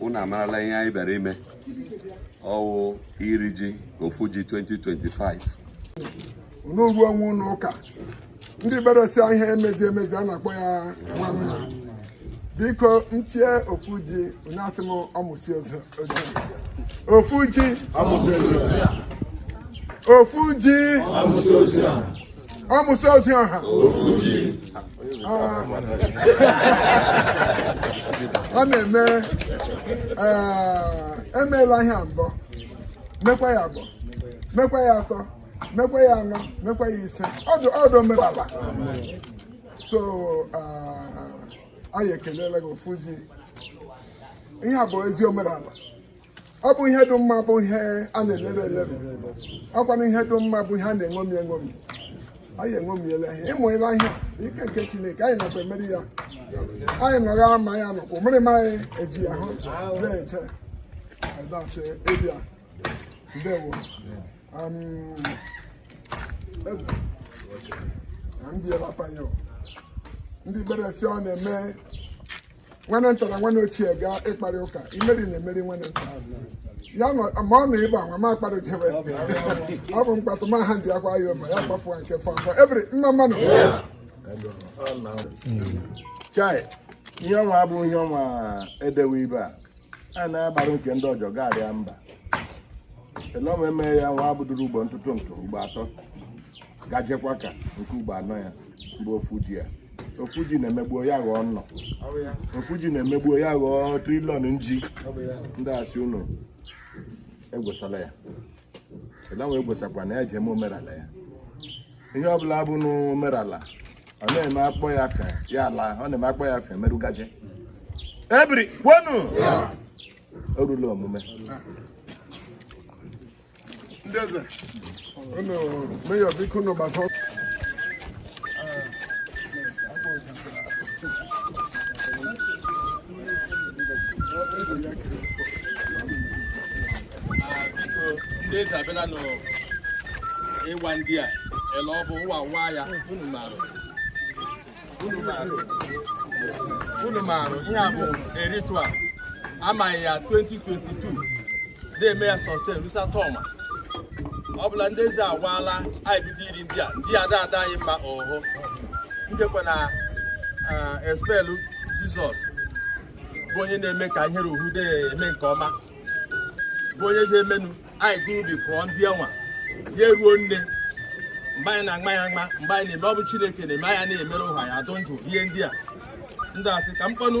unu amarala ihe anyị bịara ime ọ wụ iri ji ofu ji 2025 unu ruo onwe ụlọ ụka ndị beresi ihe emezi emezi a na-akpọ ya nwa mma biko nchie ofu ji onye asị m ọmụsi ozi ofu ji ofu ji ọmụsị ozi ọha ọ na-eme emeela ihe mbụ mekwa ya abụọ mekwa ya atọ mekwa ya anọ mekwa ya ise ọdụ ọdụ omenala so anyị ekelela gị ofu ji ihe a bụ ezi omenala ọ bụ ihe dị mma bụ ihe a na-elebe elebe ọ kwanụ ihe dị mma bụ ihe a na-eṅomi eṅomi anyị eṅomiela ihe ịmụela ihe ike nke chineke anyị nakwa emeri ya anyị nọgha ma ya nọkwa mmiri m anyị eji ya hụ na-eche adasị ịbịa ndewo eze na ndị elapanye ndị beresi ọ na-eme nwanne nta na nwanne ochie gaa ịkparị ụka imeri na emeri nwanne nta ya ma ọ na ịba nwa ma akpara jebe ọ bụ mkpatụ ma ha ndị akwa ya ụba ya kpafuwa nke fọmfọ ebiri mma mmanụ chai ihe ọnwa abụ ihe ọnwa edewe ibe a a na-agbara nke ndị ọjọ gaarịa mba elọma eme ya wee buduru ugbo ntụtụ ntụ ugbo atọ gajekwa ka nke ugbo anọ ya mgbe ofu ji ya ofu ji na-emegbuo ya ghọọ nnụ ofu ji na-emegbuo ya ghọọ trillion nji ndị asị unu egwesala ya elọma egwesakwa na ya eji eme omenala ya ihe ọbụla bụnụ omenala ọ na-eme akpọ ya fe ya ala ọ na-eme akpọ ya fe merụgaje ebiri kwenu o rula omume ndị eze unu meyọ biko unu gbasa ndị eze abịala n'ịwa ji a ele ọ bụ ụwa nwa ya unu marụ unu marụ unu marụ ihe a bụ eritua amaghị ya 2022 na-eme ya sustain rusa tọma ọ bụla ndị eze agwaala anyị bido iri ji a ndị ada ada anyị mma ọhụ ndekwa na espelu jizọs bụ onye na-eme ka ihere ohude eme nke ọma bụ onye ga-emenu anyị gụ ubi kụọ ji a nwa ya eruo nne mgbe anyị na-agba ya agba mgbe anyị na-eme ọ bụ chineke na-eme anya na-emere ụha ya adụ ndụ ihe ndị a ndị asị ka m kpọnụ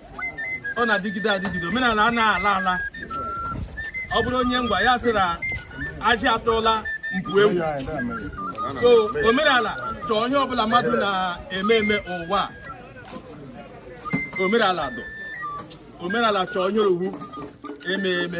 ọ na-adịgide adịgide omenala a na-ala ala ọ bụrụ onye ngwa ya sịra ajị atụla mpụ ewu so omenala chọọ onye ọbụla mmadụ na-eme eme ụwa omenala dụ omenala chọọ onye ọ wụ eme eme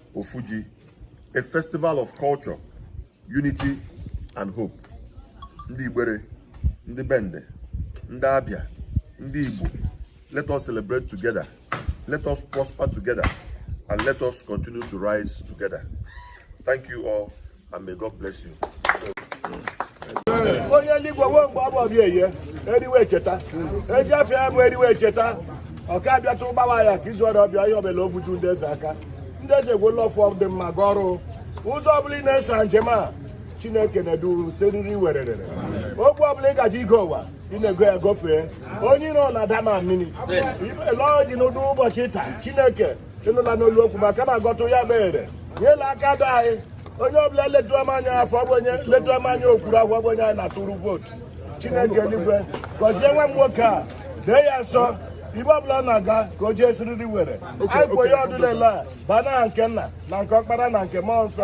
Ofuji, a festival of culture, unity and hope. Ndị Igbere, ndị Bende, ndị Abia, ndị Igbo, let us celebrate together, let us prosper together, and let us continue to rise together. Thank you all. and may God bless you. onye eluigwe o mgbe ọ bụ ọbịa eye eriwe echeta ezi afọ ya bụ eriwe echeta ọka abịatụ gbawa ya ka izu ọrịa ọbịa ihe ọbụla obuju ndị eze aka ndị eze gwụla ọfọ dị mma ga ọrụ ụzọ ọbụla ị na-eso njem a chineke na-eduru siriri werere okwu ọbụla ị gaje igo ụwa ị na-ego ya gofee onye iro na-adama mmiri lọọ dị n'ụdị ụbọchị taa chineke ị nụla n'olu okwu maka na agọtụ ya mere nyela aka dị anyị onye ọbụla letuama anyị afọ ọ bụ onye letuama anyị okpuru afọ ọ bụ onye anyị na-atụrụ vootu chineke eluigwe gọzie nwa m nwoke a dee ya nsọ ibe ọbụla ọ na-aga ka o jee siriri were anyị kwe ya ọdụlele a baa n'aha nke nna na nke ọkpara na nke mmụọ nsọ